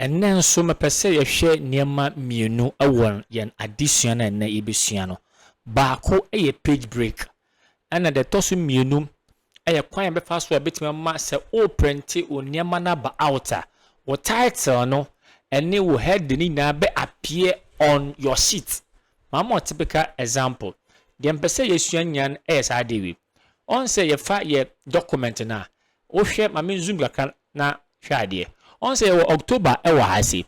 Ɛnnɛ nso mepɛ sɛ yɛhwɛ nneɛma mmienu wɔ yɛn adesua no a ɛnnɛ yɛbɛsua no. Baako yɛ page break, ɛna deɛ ɛtɔ so mmienu yɛ kwan a yɛbɛfa so a ɛbɛtumi ama sɛ woreprente wo nneɛma no aba out a, wo title no ne wo heading no nyinaa bɛ appear on your sheet. Maa mo typical example. Deɛ mpɛ sɛ yɛsua nyinaa no yɛ saa adeɛ wei. Ɔn sɛ yɛfa yɛ document no a, Wohwɛ, ma me zoom kakra na hwɛ adeɛ. Ɔn sɛ yɛwɔ October wɔ ha sei.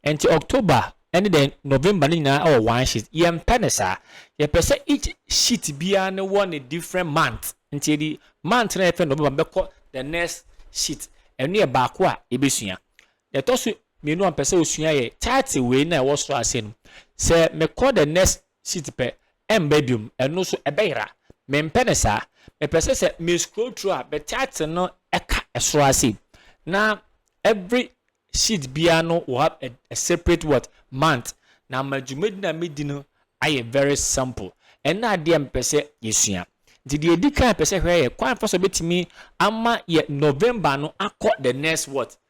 Nti October ne dɛn November ne nyinaa wɔ one sheet. Yɛmpɛ no saa. Yɛpɛ sɛ each sheet biara no wɔ ne different month. Nti yɛde month no a yɛfrɛ no November no bɛkɔ the next sheet. Ɛno yɛ baako a yɛbɛsua. Deɛ ɛtɔ so mmienu a mepɛ sɛ wosua yɛ chart wei no a ɛwɔ soro ase no. Sɛ mekɔ the next seat pɛ ɛmba biom ɛno so ɛbɛyera mempɛ no saa mepɛ sɛ sɛ me scroll through a me title no ɛka ɛsoro ha sei na every sheet biara no will have a, a separate what month na ama dwumadi na medi no ayɛ very simple ɛna adeɛ mpɛ sɛ yɛsua nti deɛ ɛdi kan pɛ sɛ hwɛ yɛ kwan fa so bɛtumi ama yɛ November no akɔ the next what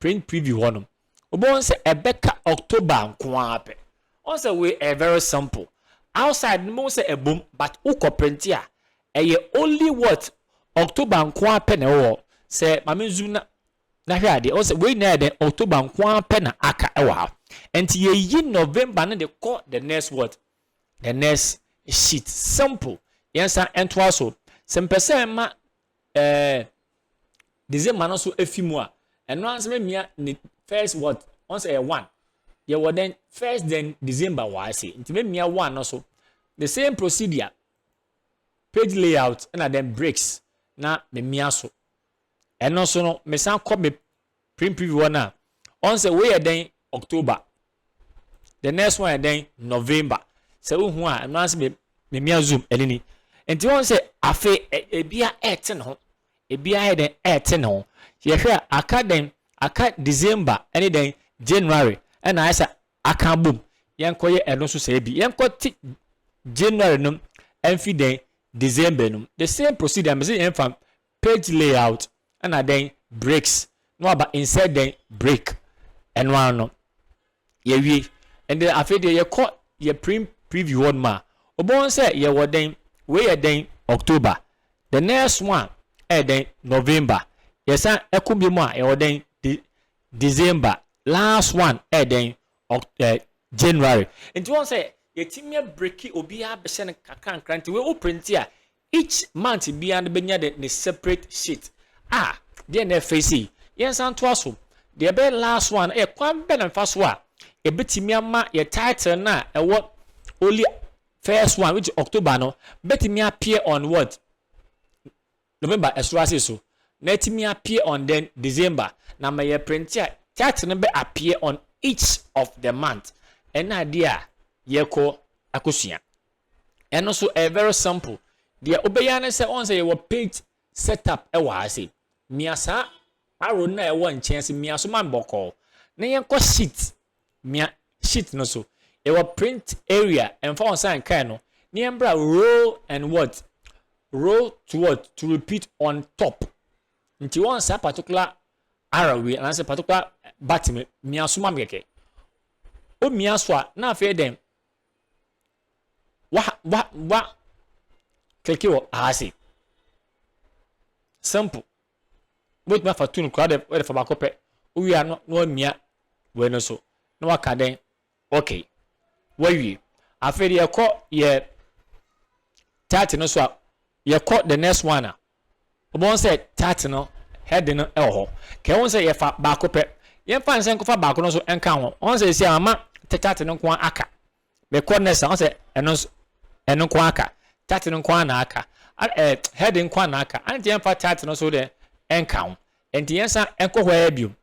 print preview hɔ nom wobɛhu sɛ ɛbɛka October nko ara pɛ wɔn sɛ wei ɛyɛ very simple outside no bɛhu sɛ ɛbom but wokɔ print a ɛyɛ only what October nko ara pɛ na ɛwɔ hɔ sɛ maame zoom na na hwɛ adeɛ wɔn sɛ wei nyinaa yɛ dɛ October nko ara pɛ na aka ɛwɔ ha nti yɛyi November no de kɔ the next what the next sheet simple yɛn san ɛntoa so sɛ mpɛ sɛ ɛma Eh, December no so efi mu a, ɛno ara nso bɛmia ne first what? Wɔn sɛ ɛyɛ one. Yɛwɔ dɛn? First then December wɔ ase. Nti bɛmia one no so. The same procedure, page layout ɛna then breaks na memia so. Ɛno so no, mesan kɔ me Prim preview hɔ no a, ɔn sɛ wei yɛ dɛn October, the next one yɛ dɛn November. Sɛ wohu a, ɛno ara sɛ me me mea zoom ɛne ni. Nti wɔn sɛ afe ebia ɛte ne ho, ebia yɛ dɛn ɛte ne ho. Yɛhwɛ a aka dɛn aka December ɛne dɛn January ɛna ayɛ sɛ aka abom. Yɛnkɔ yɛ ɛno nso sɛ bi yɛnkɔ te January no ɛnfi dɛn December no. The same procedure mɛ sɛ yɛnfa Page layout ɛna dɛn breaks na waba insert dɛn break ɛno ara no yɛwie ɛnde afei deɛ yɛkɔ yɛ print preview hɔ nom a wobɛhu sɛ yɛwɔ dɛn wei yɛ dɛn October the next one a ɛyɛ dɛn November yɛsan ɛko bio mu a yɛwɔ dɛn de December last one ɛyɛ dɛn eh, January nti wɔn sɛ yɛtumi abiriki obiara bɛhyɛ no kakra nkra nti wei wo print a Each month biara no bɛnya dɛ ne separate sheet a deɛ na ɛfɛ sei. Yɛnsan ntoa so. Deɛ ɛbɛyɛ last one yɛ kwan bɛn na mefa so a ɛbɛtumi ama yɛ title no a ɛwɔ only first one which is October no bɛtumi appear on what? November ɛsoro ase so na ɛtumi appear on then December na ma yɛ print a title no bɛ appear on each of the month. Ɛna adeɛ a yɛkɔ akɔsua. Ɛno nso ɛyɛ very simple. Deɛ wobɛyɛ ara ne sɛ wɔn sɛ yɛwɔ page setup wɔ ha sei. Mia saa arrow no a ɛwɔ nkyɛn ase mia so ma me bɔkɔɔ. Na yɛnkɔ sheet. Mia sheet no so. Yɛwɔ print area ɛmfa wɔn sɛ nkae no. Na yɛmbra row and what? Row to what? To repeat on top. Nti wɔn saa particular arrow wei anaasɛ particular button mia so ma me kɛkɛ. Omia so a na afei dɛn? wa wa wa kliki wɔ aha sei simple wobɛtumi afa tun koraa de wode fa baako pɛ wowie a na wamia wei no so na waka dɛn okay wawie afei de yɛkɔ yɛ title no so a yɛkɔ the next one a Wobɛhu sɛ chart no heading no wɔ hɔ. Ka ɛho sɛ yɛfa baako pɛ. Yɛmfa no sɛ nkɔfa baako no nso nka ho. Wɔn sɛ esi a mama te chart no nko ara aka. Mekɔ next a wɔn sɛ ɛno nso ɛno nko ara aka. Chart no nko ara na aka. Ɛɛ heading nko ara na aka. Anti yɛmfa chart no nso deɛ nka ho. Nti yɛn nsa nkɔ hɔ ara biom.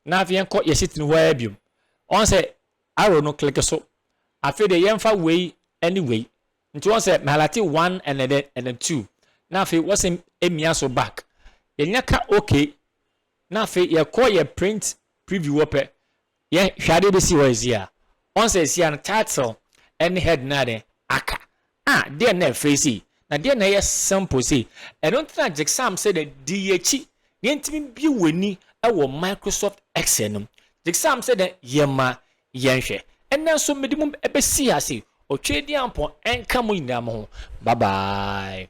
Na afei yɛnkɔ yɛ sheet no hɔ ara biom. Wɔn sɛ arrow no click so. Afei deɛ yɛmfa wei ne wei. Nti wɔn sɛ mehalate one and then and then two na afei wɔsɛ emia so back yɛnya ka ok na afei yɛkɔ yɛ print preview wɔ pɛ yɛ hwɛ adeɛ bɛsi hɔ ɛsi a wɔn sɛ ɛsi a no title ɛne head na adeɛ aka ah deɛ na ɛfɛ sei na deɛ na ɛyɛ simple sei ɛno ntina gyeksaam sɛ dɛ di yɛkyi na yɛntumi bie wɔ ani ɛwɔ Microsoft Excel no gyeksaam sɛ dɛ yɛma Yɛnhwɛ. Ɛnnɛ nso mede mo besi ha se Otwedeampɔn nka mo nyinaa mo ho. Bye bye.